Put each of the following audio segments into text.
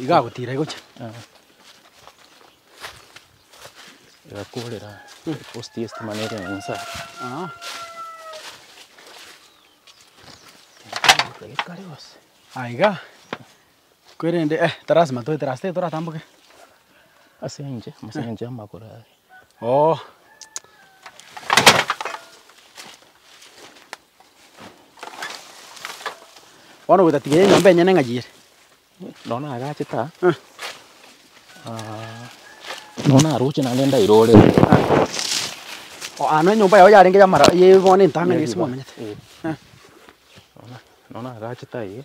Iga agotira igocha. Igakorera post ye stima nere ere insa. Ekare gose. Aiga. Kwerende eh tarasima toetere ase tete toratamboke. Ase enche ase enche y'amagoro aya. Oo. Bono gotatiga enyomba enyene ng'ai ere. Nonye na agachete aa. Nonye na roche naende ndaire ore. Oo ano enyomba yao yarenge ya mara ye bono entang'ani ase mwamenyete. Nonye na agachete aye.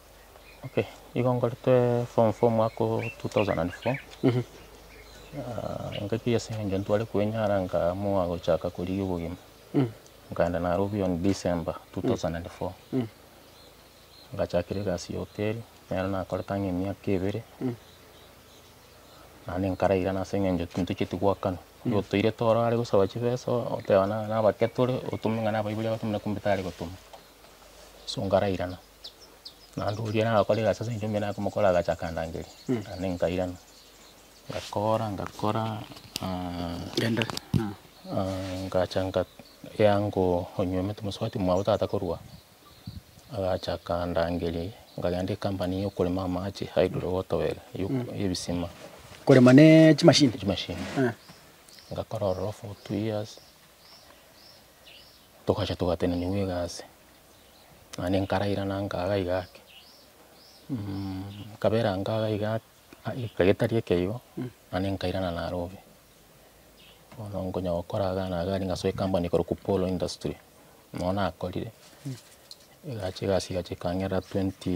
Okay, igo nkorete form four omwaka o two thousand and four, engaki ase eng'encho ntware koenyara nkaamua gochaka korigia obogima, nkaenda Nairobi on December two thousand and four, ngachakera egasi ya hoteli, nero nakorete ang'e emiaka ebere, naende nkarairana ase eng'encho tintocheti goakana, oyo otoirete ore are gosaba chibesa oteba na- nabake tore, otome ng'a nabaibori abatome na kombita are gotoma, so nkarairana. Naende oria nagokora egasi ase eng'encho mbwene akomokora agacha akandangeria, naende nkairana, ngakora ngakora ngacha nga eango onywa omete mosubati mwabo tata korwa aa, agacha akandangeria, nkagenda ecompany ya okorema amache hydro water well ya oko- ya ebisima. Korema na chimashini? Na chimashini, ngakora ororo for two years, togacha togateneniwa egasi. naende nkarairana nkaga iga ake, nkabera nkaga iga ake eke getari ekeyio, naende nkairana naro obe. Bono nkonya gokora iga na iga ningasoa ekampani ekorokwa Polo industry, nabo nakorire, egacha egasi egacha ekang'erera twenty.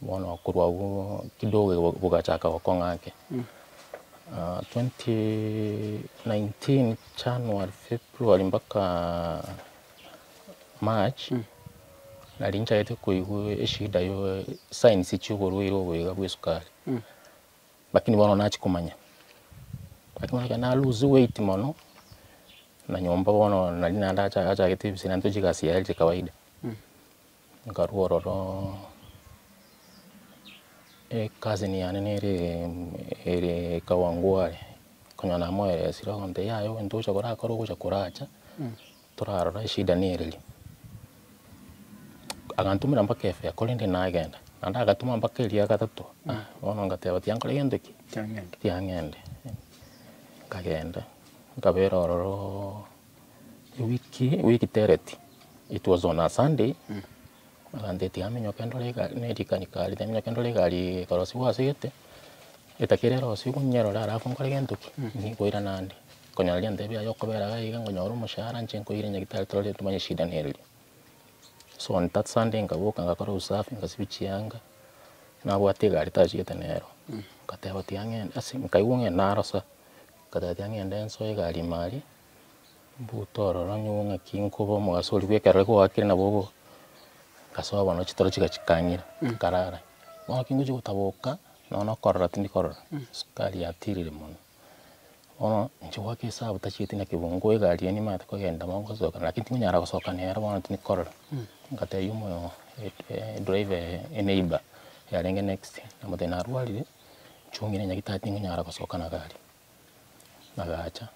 Bono korwa agwo kidogo iga bogachaka gokong'a ake. 2019 January, February mpaka March, nari nchagete koigwa eshida ya signs chia oborwaire obo iga bwa esukari. Lakini bono nachia komanya. Lakini bono ekero na lose weight mono, na nyomba bono nari naende achagete ebise naende tochia egasi yaye ere kawaida. Nkarua ororo ecousin yane nere ere Kawangware, konyora namoeresire agontebia yaya oyo ntogocha korakore ogocha koracha, torarora eshida nere ri. Agantomera mpaka efea korende nagenda, naende agatoma mpaka eria gatato, ah bono ngateba tiankore gento ki? Tiang'ende. Tiang'ende, nkagenda, nkabera ororo. Ewiki ewiki tereti it was on a Sunday aganteti amenyoke ndore egari ne rikanika rire amenyoke ndore egari ekorosiwa ase egete etakire erosiwe konyerora alafu nkore gento ki? Nkoirana nde konyora rianto riaye biaye okobera iga iga nkonyora omoshahara nche nkoire nyagitari torore tomanye shida nere ria. So on that Sunday nkaboka nkakora usafi nkasibia chianga nabwate egari tachigete nero nkateba ati ang'e ase nkaigwa ng'a narosa. Nkatebia ng'a ende nsoe egari ime aria, mbuto ororo nyowe ng'aki nkoba omogaso oria bw'ekero ekero kwaakire nabo obo, ngasoa bono chitoro chiga chikang'ira, nkarara. Bono ekero ngochia gotaboka, nonya na okorora tindi korora, sukari yatirire mono. Bono inche goaka esabu tachieti naki bo ngoe egari eria nimanyete kogenda bo ngosoka lakini tikonyara gosoka nere bono tindi korora. Nkatebia omoyo edriver eye, eneiba yarenge next, namoteebia narwarire. Nchong'ire nyagete tingonyara gosoka na gari, agacha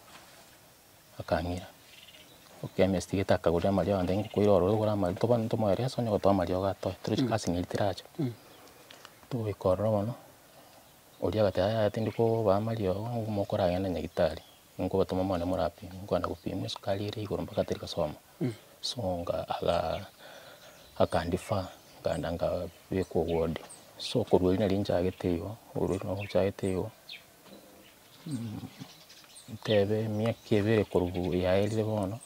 akang'ira, chemist gete akagoria amariogo agantebia ng'a nkoira ororo ogore amariogo, toba ntomoe reso onye ogotoa amariogo atoe, tore chigasi ng'iri tiracha. Togoika ororo bono, oria agateba yaya tindi kobaa amariogo, nigo mokoragenda na nyagetari. Nkobatoma omwana morapimwe, nkogenda gopimwa esukari ere igoro mpaka teri kosoma. So nga aga akandifa nkaenda nkabekwa ward. So korwa erio nari nchagete igo, korwa erio nchagete igo tebe emiaka ebere korwa yaerire bono.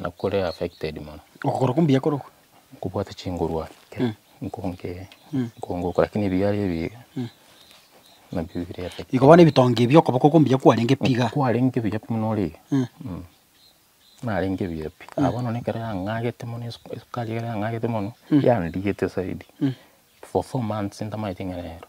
Na kore affected mono. Okogoro kombuya kore oko. Nkobwate chinguru ake. Nkonge nkongoka lakini ebi yare ebi nabio bire affected. Igo bono ebitonge ebi okoboko kombuya kwarenge pi iga. Kwarenge buya pi buna ore. Narenge buya pi. Aye bono ekero yang'agete mono esukari ekero yang'agete mono yandigete zaidi. For four months ntamaete ing'ana ero.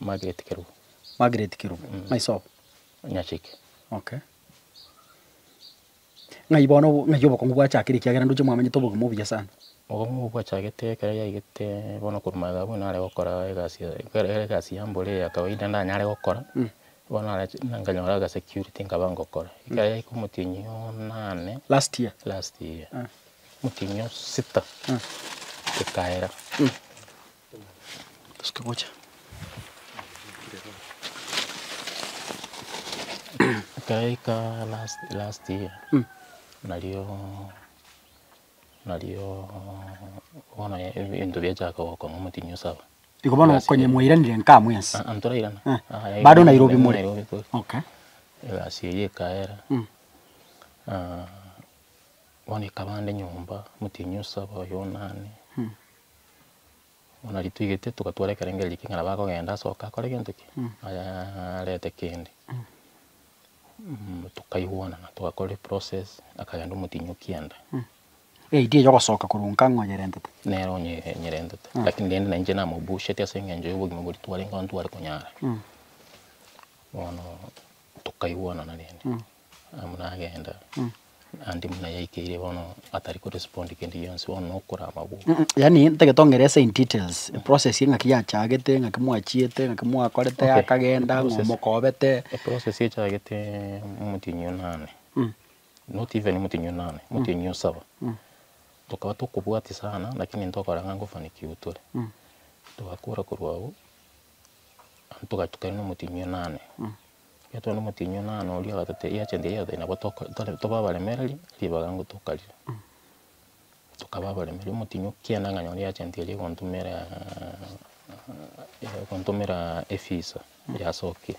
Margaret Kerubo. Margaret Kerubo. Mm. Ng'ai sobo? Nyachike. Okay. Ng'ai bono obo- ng'ai obokong'u bwachakire ekiagera ndoche mwamenyete obogima obuya sana. Obong'u obwo bwachagete ekero yaigete bono korwa magega abwo nare gokora egasi ya- ekero ere egasi ya mboro eye ya kawaida ndanyare gokora, Mm. bono nare ch- na nkanyora aga security nkaba ngokora. Ekero yaika omotienyi onane Last year. last year, Ah. omotienyi osita Mm. ekaera. ekero yaika last last year, nario nario bono ebinto biachaka gokong'a motienyi osaba. Igo bono okonye mwairanire nkaa mwensi? Aa ntorairana. Aa Aa bado Nairobi more? Bado Nairobi tore. Okay. Egasi eyio ekaera, bono ekabande nyomba, motienyi osaba, oyo onane. Bono riria twaigete togatwara ekerengera eria king'ana bakogenda asoke akore gento ki? Ayaa arete kende. Tokaigwanana togakora eprocess akagenda omotinyi o kianda. Eid eye ogosoka korwa nka ng'a oyerentete? Nere onye nyerentete lakini rende nainche namobusheti ase eng'encho ya obogima boria twarenge aye ntware konyara. Bono tokaigwanana rende. Amo nagenda, Andy buna yaikeire bono atari ko respond kende gionsi bono nokora amabwo. Yaani ntagete ongerese in details process engaki yachagete engaki mwachiete engaki mwakorete Okay. yakagenda ng'a Process. omokobete Eprocess echagete omotienyi o nane, not even omotienyi o nane, omotienyi o saba. Tokaba tokobwatia sana lakini ntokora ng'a ngofanikiwa tore. Togakora korwa agwo, togachukana na omotienyi o nane. Omonto one omotienyi one aane oria agatotebia, eria chente eria yotari nabo toka tore tobe abaremereria, ribaga nigo tokarire. Tokaba abaremereria, omotienyi okienda ng'a nyore eagent eria egontomeraa egontomeraa efisa ya soki.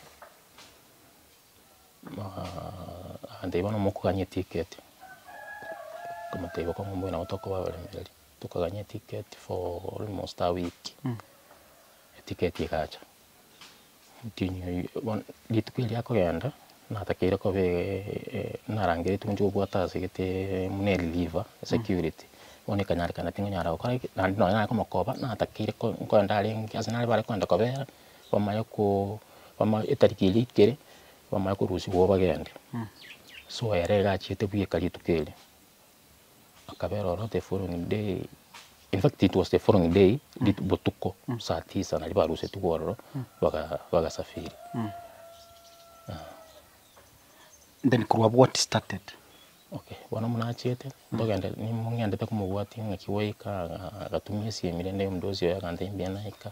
agantebia bono mokogania etiketi, nkomotebia okong'a mbuya nabo tokoba abaremereria. Tokagania etiketi for almost a week, etiketi egacha. rituko erio akogenda natakeire koba narangeretie gochia kobwata ase gete buna reliever, security, bono ekanyarekana tingonyara gokora ki, naende nonye nare komokoba natakeire nkorwe ndarenge ase nare bare kogenda kobera, bamanye ko bamanye etariki eria eikere, bamanye korusia igo bagende. So ere iga achiete bweka rituko erio. Akabera ororo the following day, in fact it was the following day, rit- botuko saa tisa naria barusetigwe ororo baga- bagasafiri. Then korwa abwo what started? Okay, bono buna achiete, togende, nimo ng'endete komobwatia ng'aki gwaika, aga- agatumia esimu ere nde omodosi oye agantebia naika.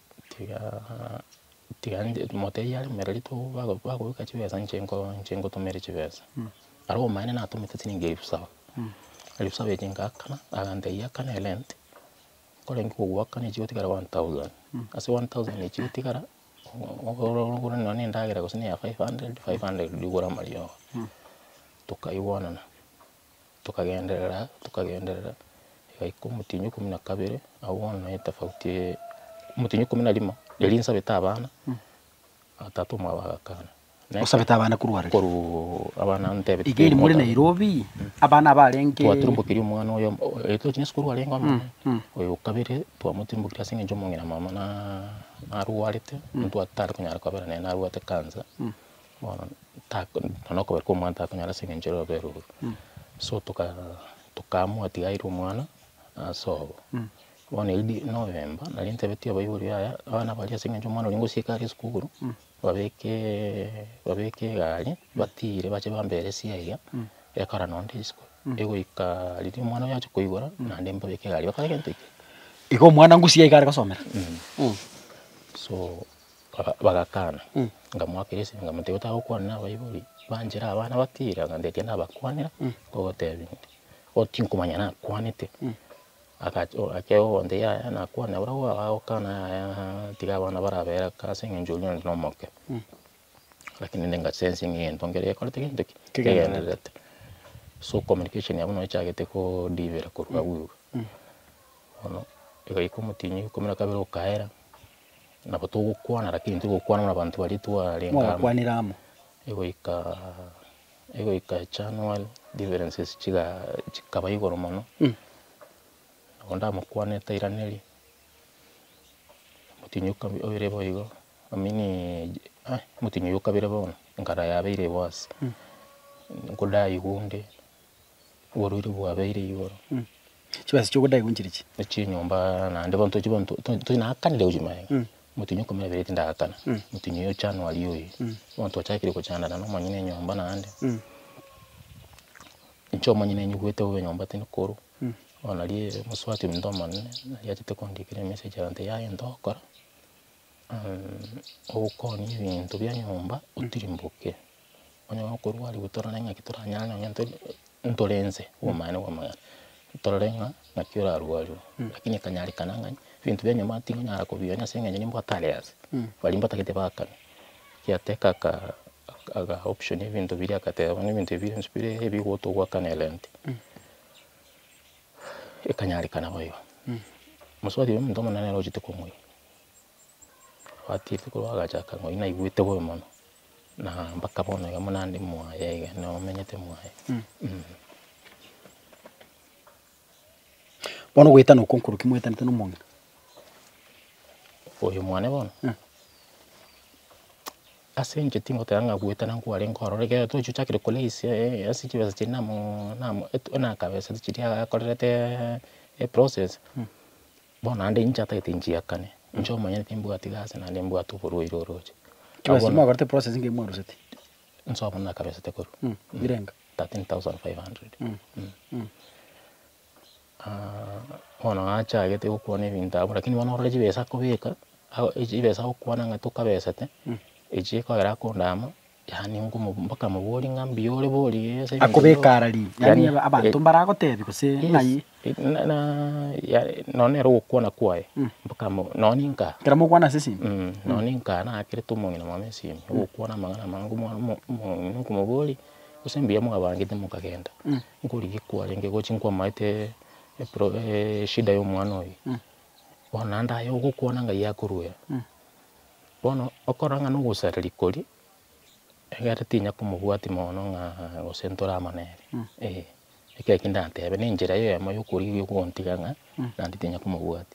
Tigaa tiga nde motebie are mbereri to bago bagoika chibesa inche nko inche ngotumere chibesa, aria obomaene natomete chilingi elfu saba, elfu saba echio ngakana, agantebia akane rent, nkorenge kogwakana echio chigotigara one thousand, ase one thousand echio chigotigara, ogoro ogoro nonye ne endagera gose ne ya five hundred, five hundred riria ogore amariogo, tokaigwanana. tokagenderera tokagenderera, egaika omotienyi ikomi na kabere, abwo bono nere etofauti eye, omotienyi ikomi na rimo, erio nsabete abana, na tata omwabo agakana. Naki- Osabete abana korwa are? korwa abana aba ntebete Iga eri more Nairobi, abana abarenge. twaturumbokirie omwana oyomo o- erio tochia na esukuru arenge omonene, oyo o kabere twamotirimbokirie ase eng'encho omong'ina mama na narwarete, ntwatare konyara kobera nere narwate cancer, Bono tako nonya okobera kwa omwana takonyara ase eng'encho ere obere ororo, so toka tokaamua tiga aire omwana ase obo. Bono erio di na obemba, nari ntebetie abaibori yaya, abana baria ase eng'encho omwana oria ngosieka are esukuru, babekeeee babeke egari, batiire bache bambere ere esia iga, ekora nonya onde isiko, egoika riria omwana oye achia koigora, naende mbabeke egari bakore gento ekio. Igo omwana ngosiga iga are gosomera? So. Baka, bagakana. Ngamoakera esegi, nkamotebia otagokwana na abaibori, banchera abana batira, ng'a ndaikia nabakwanera, ngogotebia ng'a oo tinkomanya nakwanete. Agacha, oo akia gokonta yaya nakwane, abare oo agokana yaya ng'a tiga abana barabera kaa ase eng'encho oria onde nomoke. Lakini nende ngasensia ng'a egento nkere gekorete gento ki? Kegendererete. So communication yabo nabo echagete kodivera korwa agwo igoro. Bono, egaika omotienyi riko riria kabere okaera. Nabo togokwana lakini tigokwana buna abanto baria twarenge amo. Mwagakwanire amo. Egoika egoika January differences chiga chikaba igoro mono, nabo ndamokwanire tairaneria, omotienyi o kabere oire bo igo, I mean ah omotienyi oyo o kabere bono, enkara yabeire igoro ase, nkodaigwa onde, oborwaire bwabeire igoro. Chibesa chi'ogodaigwa inchire chi? Echinyomba naende bono tochi bono to- to- toinakanire gochia maega, omotienyi o Okomera Ebereti ndagakana, omotienyi oyo January oyo, bono twachakire gochandana na omonyene enyomba naende, inche omonyene nyigwete bobe enyomba tindi korwa, bono naria omosubati ominto omonene, nari achete kondikera emessage egante yaya into ogokora, ogokonia ebinto bia enyomba otirimboke. Onye okorwa aria gotorore ng'aki toranyare nonya tori ntore nse obomanyene bwa amagena, torore ng'a ng'aki orarue arure, rakini ekanyarekana ng'a ebinto bia enyama tingonyara kobionia ase eng'encho nimbwate are ase, baria mbatagete bakane, giateka aka aga option ebinto biria agateba bono ebinto ebi bionsi bire ebi ogotwa ogwakana erent, ekanyarekana bo igo. Mosubati oria omonto omonene nere ochete komoira, abatebi korwa agacha akang'o, naigwete bobe mono. Na mpaka bono iga buna ndi mwaye iga nomenyete mwaye. Bono ogoetana okwo nkorokio mwaetanete na omong'ina? Oyo mwane bono? Eh. Ase inche tingoteba ng'a goetana nkware nkorora ekero tochi ochakire ko raise ase chibesa chiria namo namo buna akabesete chiria akorerete eprocess. Bono naende inche atagete nchiakane, inche omonyene timbwati gasi naende mbwate oborwaire oroche. Ki Abwo gasi na- mwakorete process ng'ai mwaroseti? Inse abwo nakabesete korwa Mm, birenga. 13,500. Mm. Ah, bono nachagete gokwana ebinto abwo, lakini bono orore chibesa akobeka, ago- chibesa agokwana ng'a tokabesete, echio ekogera akondaama. Yaani ngomo bakamoboria ng'a mbuya ore bori ase ebinto akobeka ara ri yani Yani, abanto eh, mbaragotebi gose Yes, ng'ai eh, na- na- ya- nonya nere ogokwana kwaye mpaka mo- nonye nka kera mokwana ase esimi Mm, nonye nka nakerete omong'ina mwane esimi ogokwana amang'ana amange omwana omo- omong'ina okomoboria gose mbuya mwabangete mokagenda nkorigia kwarenge gochi nkwamaete epro- eshida ya omwana oyo bono naende aye ogokwana ng'ai akoruera. Bono okora ng'a nogosareria koria, egere tinya komobwati mono ng'a gose ntore amo nere, eh. Ekero ki ndatebe, ne enchera eyemo ya okorigia ogontiga ng'a naende tinya komobwati.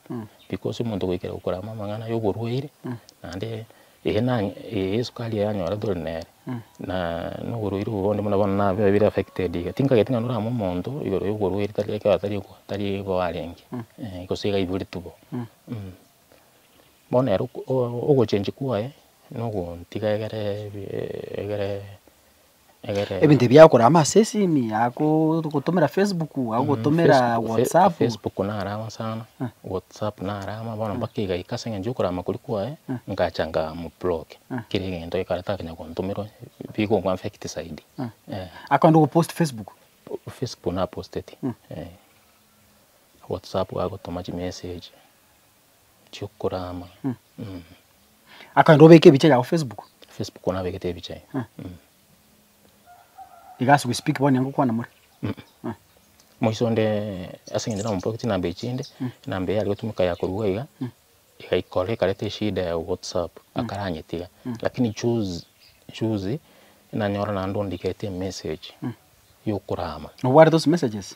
Because omonto goikera gokora amo amang'ana ya oborwaire, naende eye na eye esukari eye anyora tore nere, na na oborwaire obo bonde buna bono na bire affected iga. Tinkageti ng'a norame omonto igoro ya oborwaire tari ekero atari ogo tari igo arenge, eh, gose iga aiboretwe bo, mh. Bono ere ogochenchwa kwaye nogotiga egere egere egere. Ebinto ebi agokora ama asesini, agogotomera Facebook, agogotomera WhatsApp. Facebook naro amo sana, WhatsApp naro amo, bono mpaka egaika ase eng'encho yokora amakori kwaye, ngacha nkamobloke, kera egento ekero takonyara kontomera onye, bigo omo affect zaidi. Akogenda ogopost Facebook? Facebook naposteti, WhatsApp agotoma chimessage. Chiokorama mm. Akagenda obeke ebicha yao Facebook. Facebook bono nabegete ebicha eh. Mm. Mm. Iga as we speak bono nigo kwana more. Mm. Mm. Moiso onde ase ngende na ompoke chinamba echinde mm. enamba eye arigotumeka ya korua iga mm. iga ikore ikareta eshida ya WhatsApp mm. akaranyetiga mm. lakini juzi juzi nanyora nando ndikete message mm. yokorama. Nobwate those messages?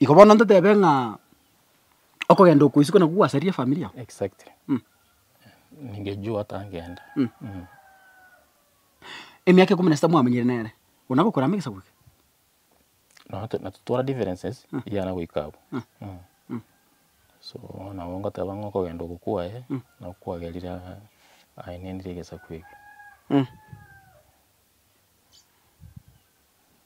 Igo bono ntotebe ng'a okogenda oko isiko nabwo gwasaria efamiri yao. Exactly. Mm. Ningejua otangenda. Mm. Mm. Emiaka ikomi na sita mwamenyire nere, bono agokora amo egesaku eke. Nonya to- natotwara differences eyane goika abwo. Mm. So nabo ngoteba ng'a okogenda oko kwaye, nabo kwagerire aa- ainenire egesaku eke.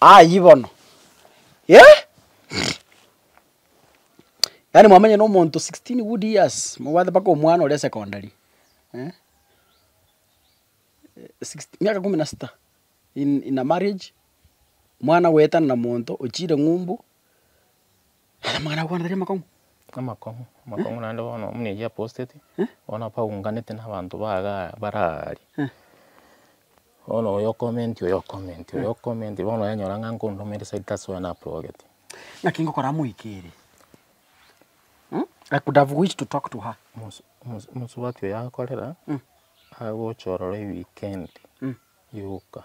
Ayii bono eh! Yaani mwamenye na omonto sixteen good years, mobwate mpaka omwana oria secondary eh, sixt miaka kumi na sita in in a marriage, mwana goetana na monto, ochire ng'umbu. Amang'ana agokwana tari amakong'u? Amakong'u, amakong'u naende bono buna erio aposteti, bono apaunganete na abanto ba iga aa bare aaria. Bono oyo okomenti oyo okomenti, oyo okomenti, bono oyanyora ng'a nkondoma ere side that's why naprogeti. Naki ngokora amoikeire. I could have wished to talk to her. Mosu mosu mosubati oyo akorera, agocha ororo ewikendi yoka.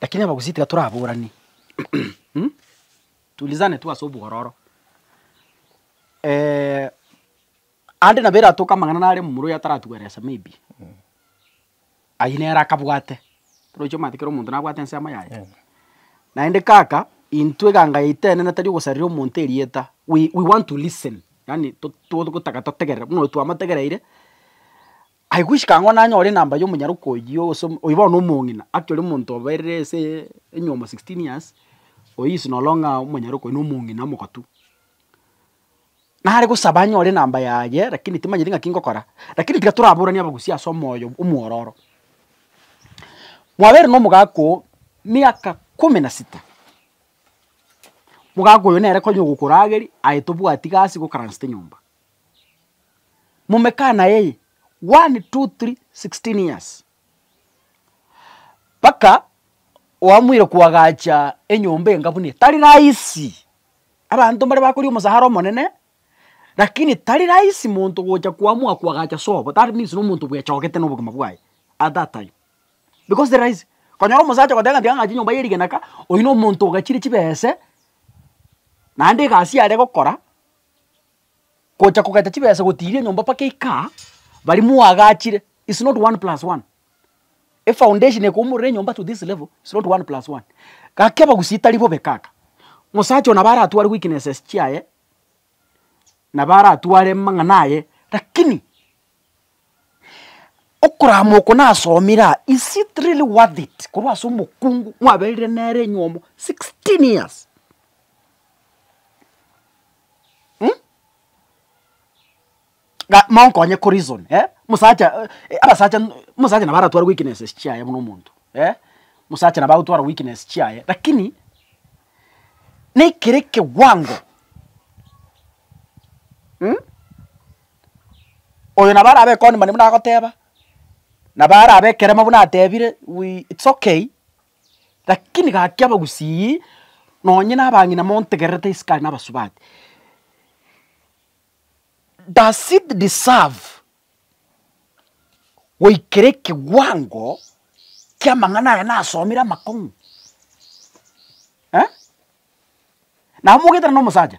Lakini abagusii tiga toraborani tulizane tu ase obwororo aande nabo eratoke amang'ana nare momura oyo ataratueresa maybe, aywo nere akabwate, torochi omanyete kera omonto nabwate ensemo yaye, naende kaka intwe eganga yaito enene tari ogosarera omonto erieta, we we want to listen, yaani to togotaka totegerere, buna oyo twamategereire, Aye goika ang'o nanyore enamba ya omonyaroke oyio gose oyio bono omong'ina, actually omonto obeire ase enyiomo sixteen years, oyio is no longer omonyaroke oyio na omong'ina omogotu. Nare gosaba anyore enamba yaye lakini timanyeti ng'aki ngokora, lakini tiga toraboranie abagusia ase omoyo omwororo. Mwabeire na omogaka oo miaka kumi na sita, mogaka oyo nere konya ogokorageria aye tobwati gasi gokarasete nyomba. momekana eye one two three sixteen years mpaka oamoire koagacha enyomba enga buna eye tari rahisi abanto mbare bakoria omosara omonene lakini tari rahisi monto gocha koamoa koagacha sobo that means nomonto bwechogete na obogima bwaye at that time because tari rahisi konyora omosacha ogoteba ng'a tiga ng'ache nyomba ye rigena ka oyio nomonto ogachire chibese naende egasi yare gokora. gocha kogata chibesa gotiiria enyomba mpaka eikaa, baria mwaagachire, it's not one plus one. Efoundation ya koumorera enyomba to this level, it's not one plus one. Gaki abagusia tari bobe kaka, mosacha oyo nabo aratware weaknesses chiaye, nabo aratware amang'ana aye, lakini. Okorama oko nasomire aa is it really worth it korwa ase omokungu mwaberire nere enyomo sixteen years um ga monkonye ko reason eh mosacha eh abasacha mosacha nabo aratware weaknesses chiaye buna omonto eh mosacha nabo agotwara weakness chiaye lakini na ekere ekewango um. Oyo nabo arabe ekoni mani buna agoteba, nabo arabe ekeremo buna atebire we it's okay, lakini gaki abagusii nonye na abang'ina montegererete isiko aye na abasubati, does it deserve goikera ekewango kia amang'ana aya nasomire amakong'u eh? Nabo mogoetera na omosacha.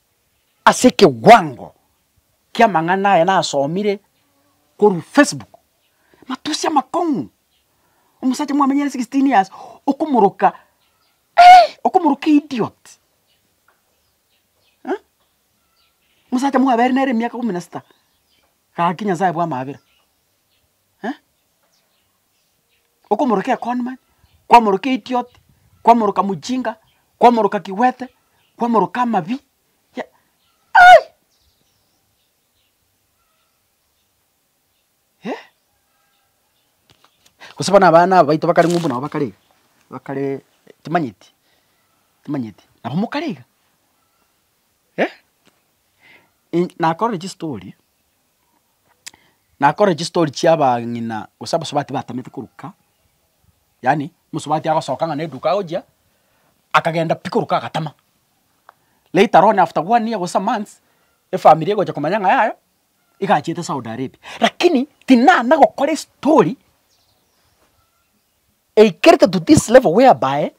Ase ekewango ki'amang'ana aya nasomire korwa Facebook, matusi amakong'u, omosacha mwamenyire sixteen years okomoroka eeh okomoroka idiot eh, omosacha mwaberire nere emiaka ikomi na sita, gaki Nyasaye bwamabera. eh, okomoroka ekoni manye, kwamoroka eitiot, kwamoroka mochinga, kwamoroka kigwete, kwamoroka amabi, ya ai eh. Gose bono abana aba baito bakare ng'umbu nabo bakare iga, bakare timanyeti, timanyeti nabo mokare iga eh, in nakorire chistory. nakore chistori chia abang'ina gose abasubati batamete koruka, yaani omosubati agosoka ng'a na eduka agochia, akagenda pi koruka agatama. Later on after one year gose a month, efamiri egocha komanya ng'a yaya, iga achiete Saudi Arabia. Lakini tinana gokora estori eikerete to this level whereby.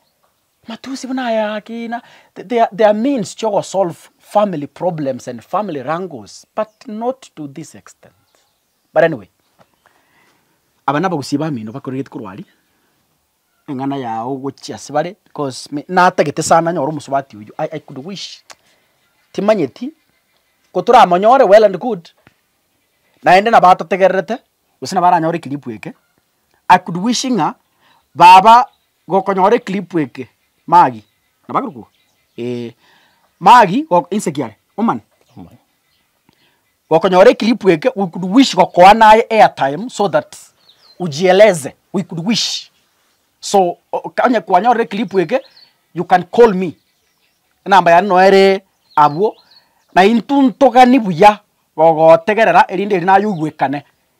Matusi buna aya akina they are means chia ogo solve family problems and family wrangles but not to this extent. But anyway, aba nabagusia bamino bakoregete korwa aria, eng'ana yao gochia ase bare because natagete sana nyore omosubati oyio i could wish timanyeti kotoramonyore well and good naende nabo atotegererete gose nabo aranyore clip eke. I could wish ng'a baba gokonyora eclip eke magi nabaruku eeh magi go inse kiare omani gokonyora eclip eke we could wish gokoa naye airtime so that ujieleze we could wish so oka onye kwanyorire eclip eke you can call me enamba yane noyo ere abwo na intwe ntogani buya gogotegerera erinde eri naye oigwekane.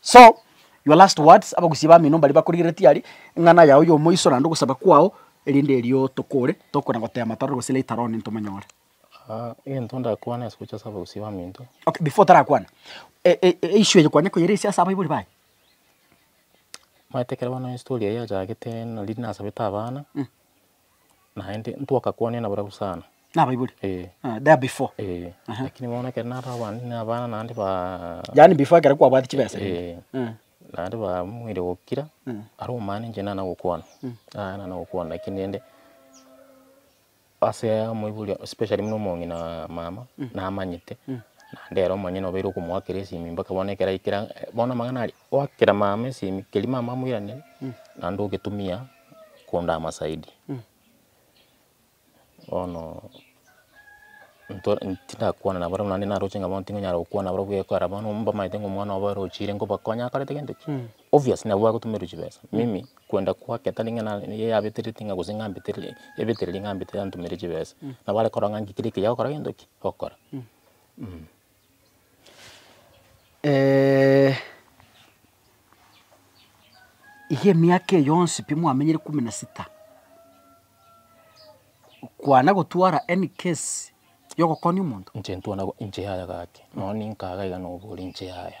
So, your last words, abagusia bamino mbaria bakorigeretie aria, eng'ana yao yomoiso naende ogosaba kwao, erinde erio tokore, tokona goteema torore gose later on ntomonyore. Egento ndakwane ase gocha ase abagusia baminto. Okay, before otarakwana, e- e- e- eissue eye kwanyare koyeresia ase abaibori baye? Omanyete ekero bono estory eye yachagete nari nasabete abana, naende ntwakakwania nabarabwo sana. Na abaibori? Eh. Ah, there before. Eh, Aha. lakini bono ekero naraba abande na abana naende ba Yaani before ekero kwabwati chibesa rende. Eh, Eh. naende bamwire gokira Mm. aro omana inche nana gokwana aya nana gokwana lakini rende ase amoibori especially buna omong'ina mama namanyete naende ere omonyene obeire okomoakera esimi mpaka bono ekero aikera bono amang'ana aria Goakera mama esimi, keri mama amoiranerie, naende ogetumia kondama zaidi. Bono nto- tindakwana nabarabwo naende naroche ng'a bono tingonyara gokwana nabarabwo buna ekero bono mbamaete ng'a omwana obo arochire nkobakonya akarete gento ki? Obvious nabo bagotomerwa chibesa. Mimi kwenda kwake tari ng'a na- nigo yabetereti ng'a gose ng'ambetereri ebetereri ng'ambetereri antomere chibesa. Nabo arekorora ng'a inche kera ekeiya ogokora gento ki? Ogokora. Eeh iga emiaka eye yonsi pi mwamenyire ikomi na sita, kwana gotwara any case ya ogokonia omonto? Inche ntwana inche yaya gaki, nonye ninkaga iga nobore inche yaya.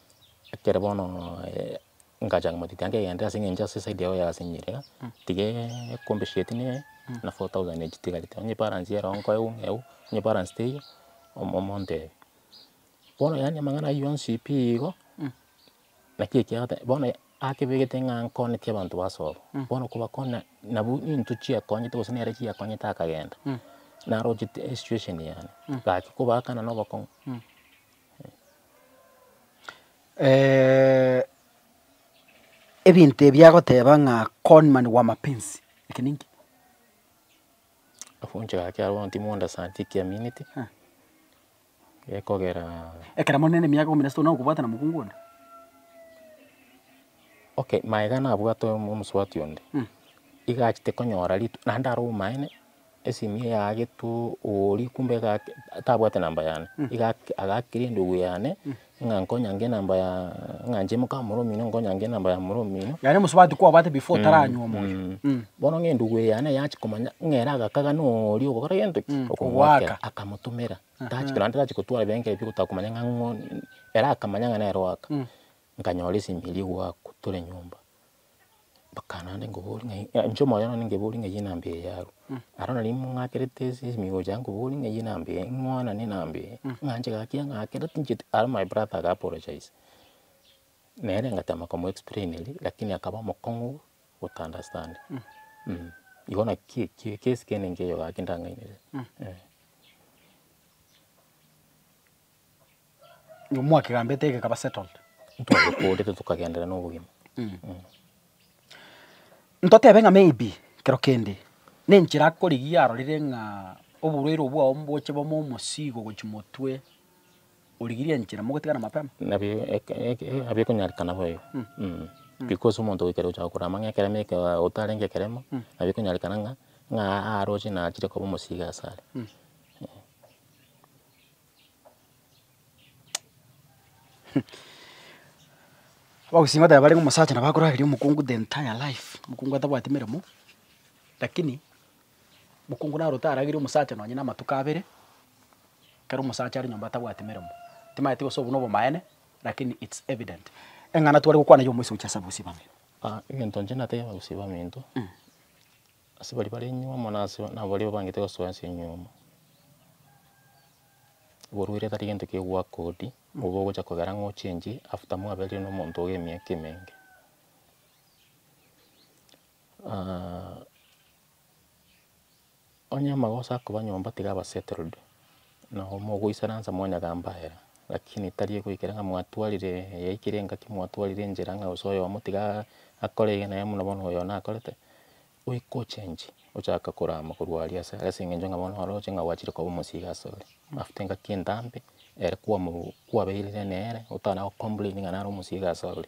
ekero bono ngachaka motitia nkegenderera ase eng'encho ase eside yao yasenyire iga, tiga ecompensate neye na four thousand echi etigarete, onye ebalance ere oo nkoe buna ebu, onye ebalance teiyo, omo- omontebie. Bono yaani amang'ana aywo yonsi pi igo, naki ekiagera bono akebegete ng'a nkonetie abanto ba sobo, bono kobakona nabwo nintwe chiakonyete gose nere chiakonyete akagenda, narochete esituesheni yane, gaki kobaakana na obokong'u. ebinto ebi agoteba ng'a con man wa mapenzi, eke ninki? Ogochika gaki abwo bono timorenda sana tikiamineti, gekogeraa. Ekero more ne emiaka ikomi na sesano nagokobwata na mokungu onde? Okay, maega nabwate omosubati onde, iga achete konyora rit- naende are omomaene. Esimu eye yagetwo oria kumbe iga ake, tabwate number yane, iga ake agakeria endugu yane, ng'a nkonyange enamba ya, ng'a inche moka omoro omino nkonyange enamba ya omoro omino, Yaani omosubati kwabate before otaranywa omoyo. Mm. bono ng'a endugu eye yane yachi komanya ng'a ere agakagana oria ogokora gento ki? Okogoaka. Okogoakera, akamotomera, tachi korende tachi kotwara ebirengererio ebio gotakomanya ng'a ng'o, ere akamanya ng'a nere oaka, nkanyora esimi eria egoakwa tore nyomba. Bakana naende nkobori ng'ai, ng'a inche omoyo one nkebori ng'ai enamba eye yarwa, aro nari ng'akerete ase esimigo chiane nkobori ng'ai enamba eye, ng'wanane enamba eye, ng'anche gaki ng'akera tincheti, aro my brother aga apologise, nere ngatema komo explaineria, lakini akaba omokong'u ota understand, mh. Igo naki eki ekesi kene nkeiyo gaki ndang'ainete eh. Omwakegambete egekaba settled. Ntwabokorete tokagendera nobogima. Ntotebe ng'a maybe kero kende nenchera akorigia arorire ng'a oborwaire obwo bwao mboche bome omosii gogochia motwe origirie enchera mogotigana mapema. Nabio nabio ekonyarekana boigo because omonto goika riria ogocha gokora amang'ana ekeremo ekero otarenge ekeremo nabio ekonyarekana ng'a ng'a aroche nachire koba omosii iga asare. Abagusii ngoteeba bare ng'a omosacha nabo akorageria omokungu the entire life, omokungu atabwati meremo, lakini mokungu naro otaragerie omosacha nonye na amatuko abere, ekero omosacha are nyomba atabwati meremo. Timaeti gose obwo na obomaene, lakini it's evident. Eng'ana tware gokwana ya omoisa gochia ase abagusii baminto. egento inche natebie abagusii baminto. Ase baria bare nyuoma na ase baria babangete gosoa ense enyuoma, oborwaire tari gento kegoakodi, nigo ogocha kogera ng'a ochenche after mwaberire na omonto oye emiaka emenge. onye amagoso akoba nyomba tiga aba settled. Nao mogoisaransa mwanyagamba ere, lakini tari egoikera ng'a mwatwarire eyaikire engaki, mwatwarire enchera ng'a gose oyomo tiga akore eye na eye buna bono oyo nakorete, goika ochenchie, ochake korama korwa aria ase ase eng'encho ng'a bono oroche ng'a gwachire koba omosiiga ase ore. After engaki entambe, ere kwamo kwabeirire nere, otana gocomplain ng'a nare omosiiga ase ore.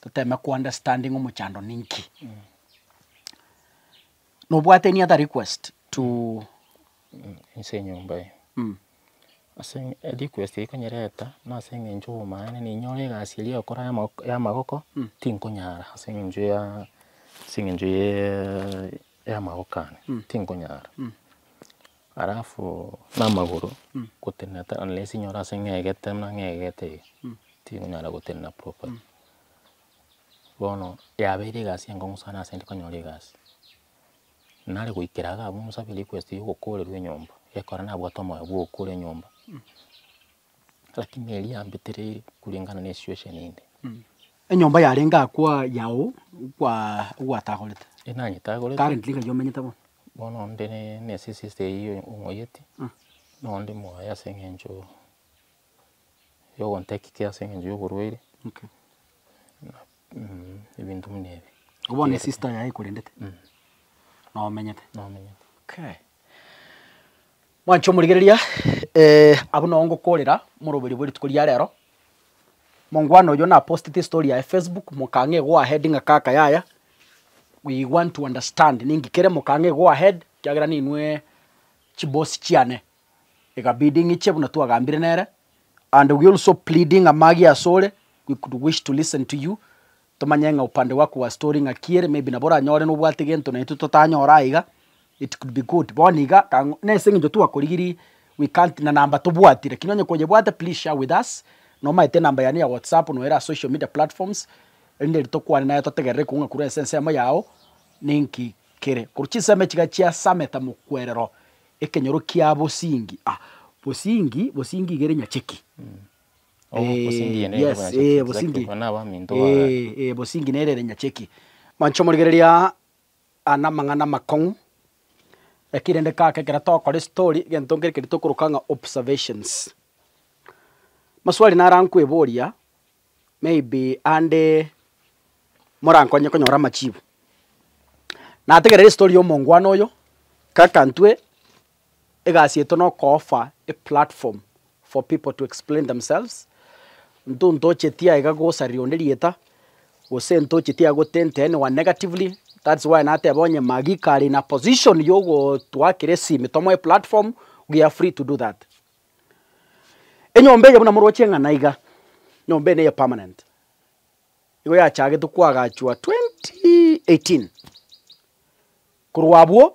Toteme ko understanding omochando ninki. Nobwate any other request to Inse enyomba eye. Ase erequest eye konyereta na ase eng'encho obomaene ninyore egasi eria okora ya mo- ya amagoko tinkonyara ase eng'encho ya ase eng'encho ya amagoko ane tinkonyara. Alafu namagoro gotenena ta unless inyore ase ng'egete buna ng'egete iga, tikonyara gotenena properly. Bono yabeire egasi enkong'u sana ase intwe konyora egasi. Nare goikera iga abwo ng'usabie request ya ogokorerwa enyomba, gekora nabwate omoyo bwa ogokora enyomba. Lakini eria yambia teri kulingana ne situation inde. Enyomba yarenge akwa yao kwa ogwatagorete. Enanyetagorete. Currently ng'ai omenyete bono. Bono nde ne ne sister eyio ong'oyeti. Nao ndi moyo ase eng'encho ya ogontake care ase eng'encho ya oborwaire. Okay. Ebinto buna ebi. Ko bono sister yaye ekorendete. Nomenyete. Nomenyete. Okay. Mwancha omorigereria, abwo nao ngokorera moroberio bwe rituko ria rero. Mongwana oyio napostete estory yaye Facebook, mokang'a e go ahead ng'a kaka yaya, we want to understand ninki kere, mokang'a e go ahead ekiagera ninwe chiboss chiane. Ekabidi ng'iche buna twagambire nere, and we also pleading amagi asore, we could wish to listen to you. Tomanye ng'a upande gwa kwa story ng'aki ere, maybe nabo oranyore nobwate gento naintwe totanyora aiga, it could be good. Bono iga kang'o nase eng'encho twakorigirie we can't na number tobwati lakini onye koyebwate please share with us, nomaete enamba yane ya WhatsApp noere ase social media platforms erinde riria tokwane naye totegerere ekong'u ng'a korwa ase ensemo yao ninki kere. Korwa chinsemo echi iga chiasamete mokwerero ekenyoro kia bosingi, ah bosingi bosingi iga ere nyacheki. Obosingi Eeh, nere yes, bwanyacheki eh, exactly, obosingi. abwo nabo aminto bagaye. Eh, eh, obosingi nere ere nyacheki. Manche omorigereria aa aya namang'ana amakong'u, lakini rende kaka ekero togokora estory, egento nkere keria tokoroka ng'a observations. Maswali naro ankweboria, maybe ande morankonye konyora amachibu. Nategerera estory ya omongwana oyo, kaka ntwe. Egasi yaito noko offer a platform for people to explain themselves, nto ntocheti aiga gosaria onde rieta, gose ntocheti aiga gotenta anyone negatively, that's why nateba onye Maggie kare in a position ya ogotoakera esimi tomoe platform, we are free to do that. Enyomba eye buna moroche eng'ana iga, enyomba eye neye permanent, igo yachagetwe koagachwa twenty eighteen, korwa abwo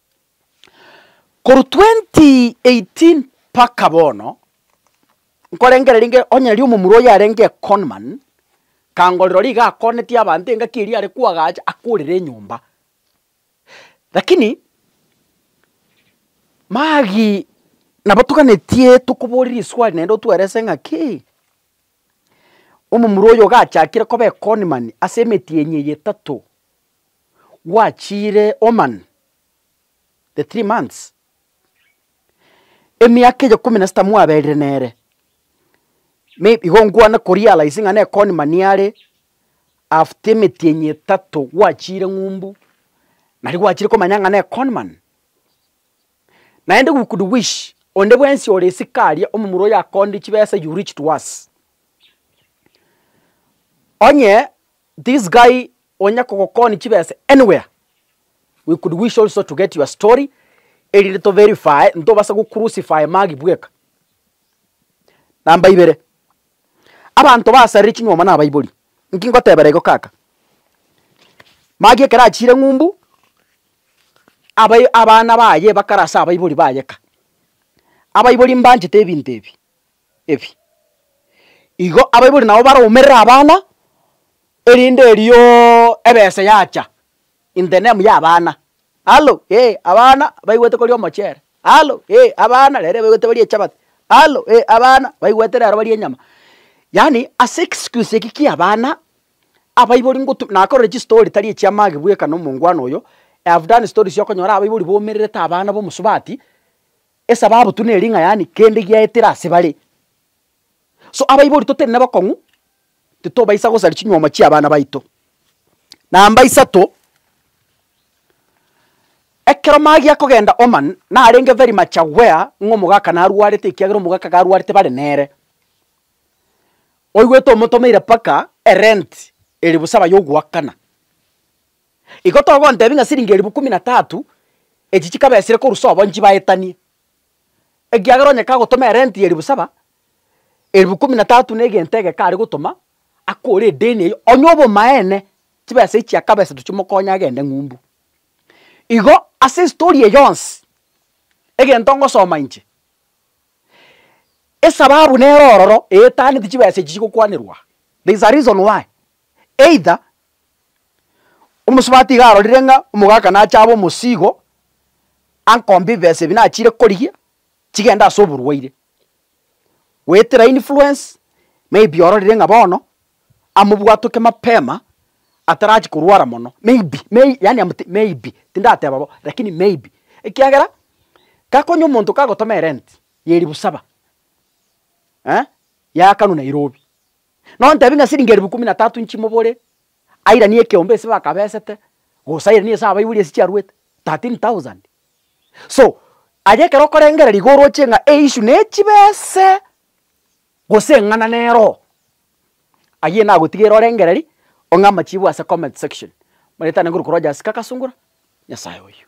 Korwa 2018 mpaka bono, nkorengereria inge onye riria omomura oyo yarenge econman, kangorera ori iga akonetie abanto engaki eria are koagacha akorere enyomba. Rakini, magi nabo toganetie tokoboreria eswali naende otwerese ng'a kei, omomura oyo iga achakire koba econman ase emetienyi eye etato. gwachiire Oman, the three months, emiaka eye ikomi na sita mwaberire nere, na igo nkwana korealize ng'a nekoni mani are after emetienyi etato gwachiire ng'umbu, nari gwachiire komanya ng'a ne conman. Naende we could wish onde bwensi ore esika aria omomura oyo akonde chibesa you reach to us. Onye This guy onya kogokoni chibesa anywhere we could wish also to get your story erinde to verify ntobase go crucify Magi bweka. Number ibere abanto basarire chinyuomo na abaibori nki ngotebera igo kaka Magi ekero achiire ng'umbu abai abana baye bakara ase abaibori baye ka abaibori mbanchete ebinto ebi ebi. Igo abaibori nabo baromerere abana, erinde erio ebesa yacha in the name ya abana, alo ee abana baigwete koria omochere, alo ee abana rero ebaigwete barie echabati, alo ee abana baigwete rero barie enyama. Yaani ase egisikusi eki kia abana, abaibori ngotu nakorire chistory tari echia mage bweka na omongwana oyo, I have done stories okonyora abaibori baumererete abana b'omosubati, Esababu tu neri ng'a yaani kende giaetire ase bare. So abaibori totari nabakong'u, titobaisa gosaria chinyuoma chi'abana baito. Namba isato, ekero magi akogenda Oman, narenge very much aware ng'a omogaka narwarete ekiagera omogaka garwarete bare nere. Oigwete omotomeire mpaka erent eri bosaba yogoakana. Igo togontebia ng'a siringi elifu kumi na tatu echi chikabesire korwa sobo nchibaetanie, ekiagera onye kagotoma erenti ya elifu saba, elifu kumi na tatu na egento egeke are gotoma, akore edeni eyio, onye obomaene, chibesa echi akabesetwe chimokonye agende ng'umbu. Igo ase estori eye yonsi, egento ngosoma inche, esababu nere ororo eetaneti chibesa echi chigokwanerwa aa. There is a reason why either omosubati iga arorire ng'a omogaka nache abe omosigo, ankombe ebibesa ebi nachire korigia, chigende ase oborwaire. Goetera influence, maybe ororire ng'a bono, amobwatoke mapema atarachi korwara mono, maybe may yaani am te maybe, tindateba bo, rakini maybe, ekiagera, gakonya omonto kagotoma erenti ya elifu saba, eh, ya kanu Nairobi. Nontebie ng'a siringi eribu ikomi na tatu nchimobore, airanie ekeombe ase bakabesete, gose airanie ase abaibori ase chiaruete, thirteen thousand. So, aye ekero okorengereria iga oroche ng'a eissue nechibese gose eng'ana neroho, ayio nagotigeire orengererie, ong'e amachibu ase comment section. Manyete naende nkoruka Rogers Kakasungura, Nyasaye oyio.